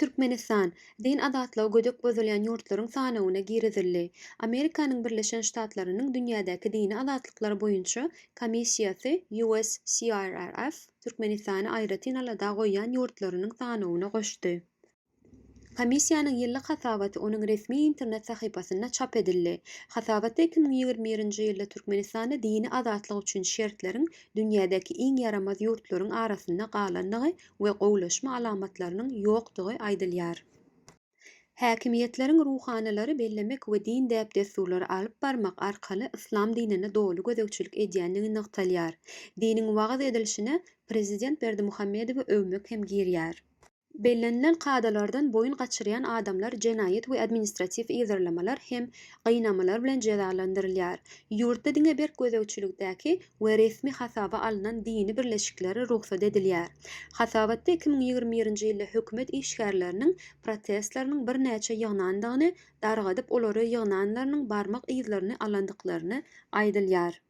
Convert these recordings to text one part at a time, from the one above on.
Türkmenistan, din azatlygy gödek bozulýan ýurtlaryň sanawyna girizildi. Amerikanyň Birleşen Ştatlarynyň dünýädäki dini azatlyklar boýunça komissiýasy USCIRF Türkmenistany aýratyn alada goýýan ýurtlarynyň sanawyna goşdy. Komissiýanyň ýyllyk hasabaty onuň resmi internet sahypasynda çap edildi. Hasabatda iki müň ýigrimi birinji ýylda Türkmenistanda dini azatlyk üçin şertleriň dünýädäki iň ýaramaz ýurtlaryň arasynda galandygy we gowulaşma alamatlarynyň ýokdugy aýdylýar. Häkimiýetleriň ruhanylary bellemek we din däp-dessurlary alyp barmak arkaly yslam dinine doly gözegçilik edýändigi nygtalýar. Diniň wagyz edilişine prezident Berdimuhamedowy öwmek hem girýär. Bellenilen kadalardan boýun gaçyrýan adamlar jenaýat we administratiw yzarlamalar hem gynamalar bilen jezalandyrylýar. Ýurtda diňe berk gözegçilikdäki we resmi hasaba alnan dini birleşiklere rugsat edilýär. Hasabatda iki müň ýigrimi birinji ýylda hökümet işgärleriniň protestleriniň birnäçe ýygnandygyny, dargadyp olary ýygnanlarynyň barmak yzlaryny alandyklaryny aýdylýar.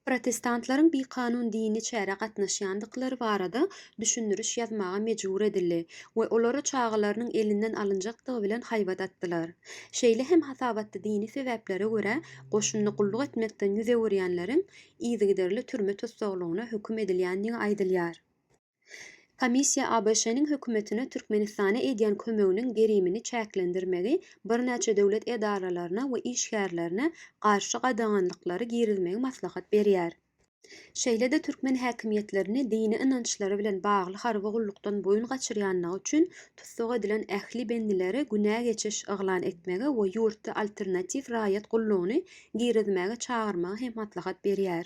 Protestantlaryň bikanun dini çärä gatnaşýandyklary barada düşündiriş ýazmaga mejbur edildi we olara çagalarynyň elinden alynjakdygy bilen haýbat atdylar. Şeýle hem hasabatda dini sebäplere görä goşunda gulluk etmekden ýüz öwürýänleriň yzygiderli türme tussaglygyna höküm edilýändigi aýdylýar. Komissiýa ABŞ-nyň hökümetine Türkmenistana edýän kömeginiň gerimini çäklendirmegi, birnäçe döwlet edaralaryna we işgärlerine garşy gadaganlyklary girizmegi maslahat berýär. Şeýle-de türkmen häkimiýetlerini dini ynançlary bilen bagly harby gullukdan boýun gaçyrýanlygy üçin tussag edilen ähli bendileri günä geçiş yglan etmegi we ýurtda alternatiw raýat gullugyny girizmäge çagyrmagy hem maslahat berýär.